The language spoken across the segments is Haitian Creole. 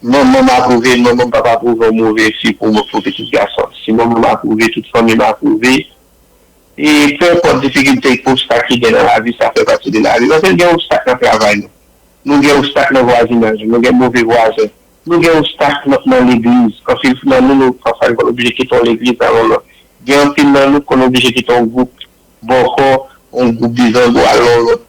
Manman m apwouve, manman m pap apwouve yon move fi pou pitit gason. Si manman m apwouve, tout fanmi m apwouve. E pe enpòt difikilte ak obstak ki gen nan lavi, sa fè pati de lavi. Paske n gen obstak nan travay nou. Nou gen obstak nan vwazinaj nou. Nou gen move vwazen. Nou gen obstak nan legliz. Anpil nan nou nou pafwa nou konn oblije kite yon legliz al yon lòt. Gen anpil nan nou k konn oblije kite yon gwoup bòkò, yon gwoup bizango al yon lòt.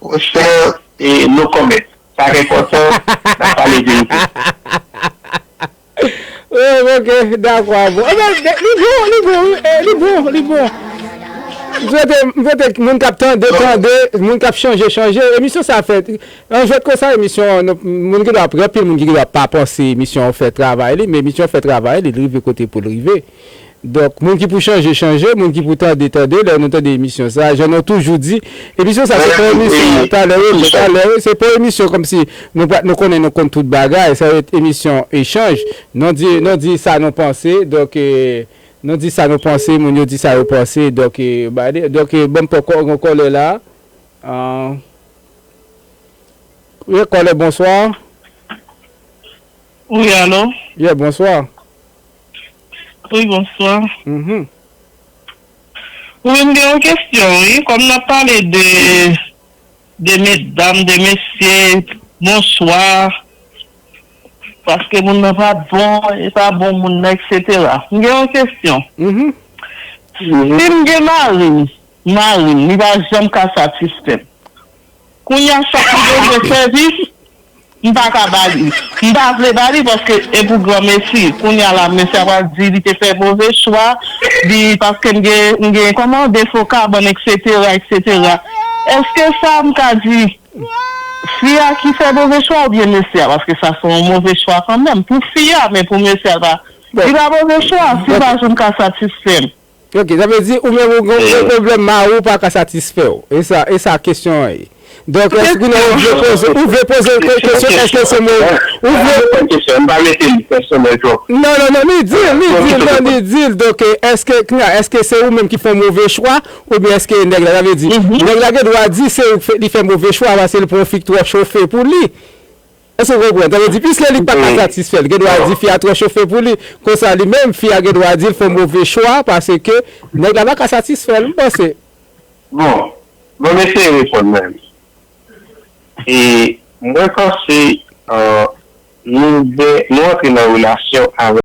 Mon chè e no comment sa k enpòtan nan pale verite. Ooh ok dakò a bon ebyen li bon li bon wi e li bon li bon m swete m swete moun kap tande tande moun kap chanje chanje emisyon sa fè an jwèt konsa emisyon an nou moun ki do ap gen anpil moun ki do ap pa panse emisyon an fè travay li men emisyon an fè travay li li rive kote poul rive. Donk moun ki pou chanje chanje, moun ki pou tande tande lè nou tande emisyon sa a jan nou toujou di emisyon sa se pa emisyon talè yo lè talè yo se pa yon emisyon kòmsi nou pa nou konnen nou konn tout bagay sa ret emisyon echanj nou di nou di sa nou panse donk nou di sa nou panse moun yo di sa yo panse donk bade donk banm pran kò yon kòlè la an wi kòlè bonswa wi alo ye bonswa. Wi bonswa Wi m gen yon kesyon wi kòm nap pale de de medam de mesye bonswa paske moun nan pa bon e pa bon moun nan eksetera m gen yon kesyon si m gen mari marim li pa janm ka satisfèm. Kounya sak li bezwen sèvis m pa ka ba li. M pa vle ba li paske e pou granmesi. Kounya la mesye a pral di li te fè move chwa li paske m gen m gen kòman defo kabann eksetera eksetera. Eske sa m ka di fi a ki fè move chwa oubyen mesye a paske sa se yon move chwa kanmenm pou fi a men pou mesye a l pa li pa move chwa si l pa janm ka satisfè m. Ok, sa vle di ou menm ou gen yon pwoblèm mariw pa ka satisfèw? E sa, e sa kesyon an ye? Donk eske kounye ou vle poze, ou vle poze l kèk kesyon eske se mo, ou vle Sa depan kesyon an, m pa mete li pèsonèl twòp. Non, non, non, li dil, li dil, non, li dil, donk eske kounye a, eske se ou menm ki fè yon move chwa oubyen eske nèg la, sa vle di nèg la gen dwa di se ou li fè move chwa paske li pran yon fi k twò chofe pou li? Èske w konprann? Sa vle di, piske li pa ka satisfè l, gen dwa di fi a twò chofe pou li. Konsa li menm, fi a gen dwa di l fè move chwa paske nèg la pa ka satisfè l, m panse. Bon, bon m eseye reponn mwen menm. E mwen panse, nou gen, nou antre nan relasyon avèk.